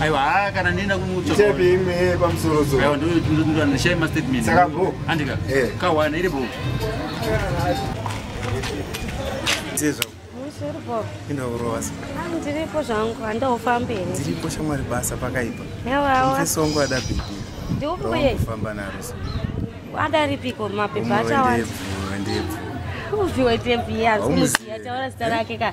aiwa haa kana ndienda kumutsvaandishai mastatement andika eh. kawana iri bro indaurowasa ndiripo zvangu handaufambi here ndiripo shamwari basa pakaipa yawawasongo ada bhibi ndiubuye kufamba naro adaripiko mapepa achawandaevhu uviwe tevhu yaaumuziya taura zita rake ka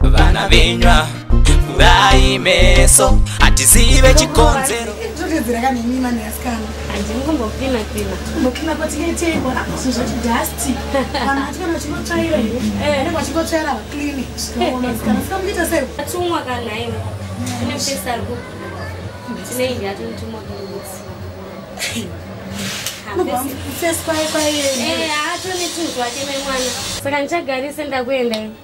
vana venywa kurai meso hatizive chikonzero saka ndichagarise ndakuenda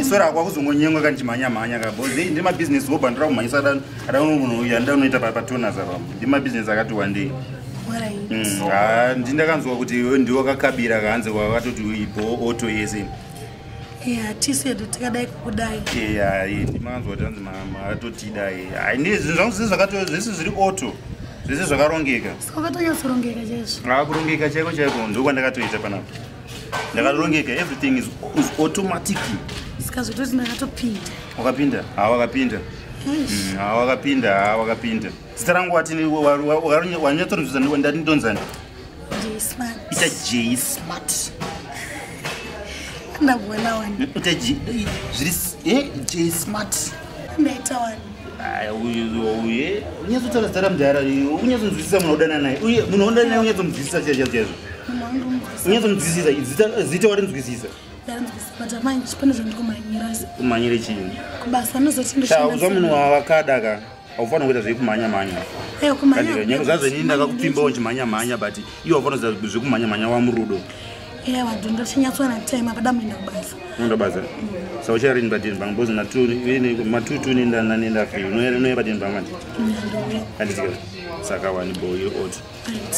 isora akwa kuzongonyengwa ka ndichimhanya mhanya ka bcause hei ndiri mabizinesi wobva ndira kumhanyisa dano adano munhu uyu andida unoita patonas apa ndi mabizinesi akati wandei mm, ha ndi ndakanzwa kuti ndiwo kakabira kahanzi kwakatoti ibo oto yese hatisedu tikadai kukudai ya ndimakanzwa kuti anzi matotidai hai ndi zvinhu zvangu zvisi zvakato zvisi zviri oto zvisi zvakarongeka saka katonyatsorongeka chaizvo akurongeka chaiko chaiko ndokwandakatoita panapa ndakarongeka everything is, is automatically sikazototi ndakatopinda wakapinda ha wakapinda mm, ha wakapinda ha wakapinda zita rangu watini wanyatsorinzvisa ndati ndonzani ita j smart ndakuona wani ita j zviri eh, j smart Meta wani. Aya uye uye unyazo tsara tsara mdara unyazo nzwisisa mwana udana naye uye munhu onda naye unyazo nzwisisa chaizvo chaizvo unyazo nzwisisa zita zita wari nzwisisa kumanyire chini uzva munhu wavakada ka aufanira kuita zvekumhanya mhanya nyange zvazo ini ndakakupfimbawo chimhanya mhanya but iwe aufanira kuita zvekumhanya mhanya wamurudo Yeah, vantu ndochinyatswana time apa damuenda kubasa. Unoenda kubasa. Saka ucharini padini banga bozi matuni matutu unoenda nani enda free. Unoenda unoenda padini banga manje. Handiti kana. Saka wani bo iri oti.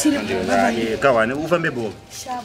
Tiri baba. Kawani ufambe bo. Sharp.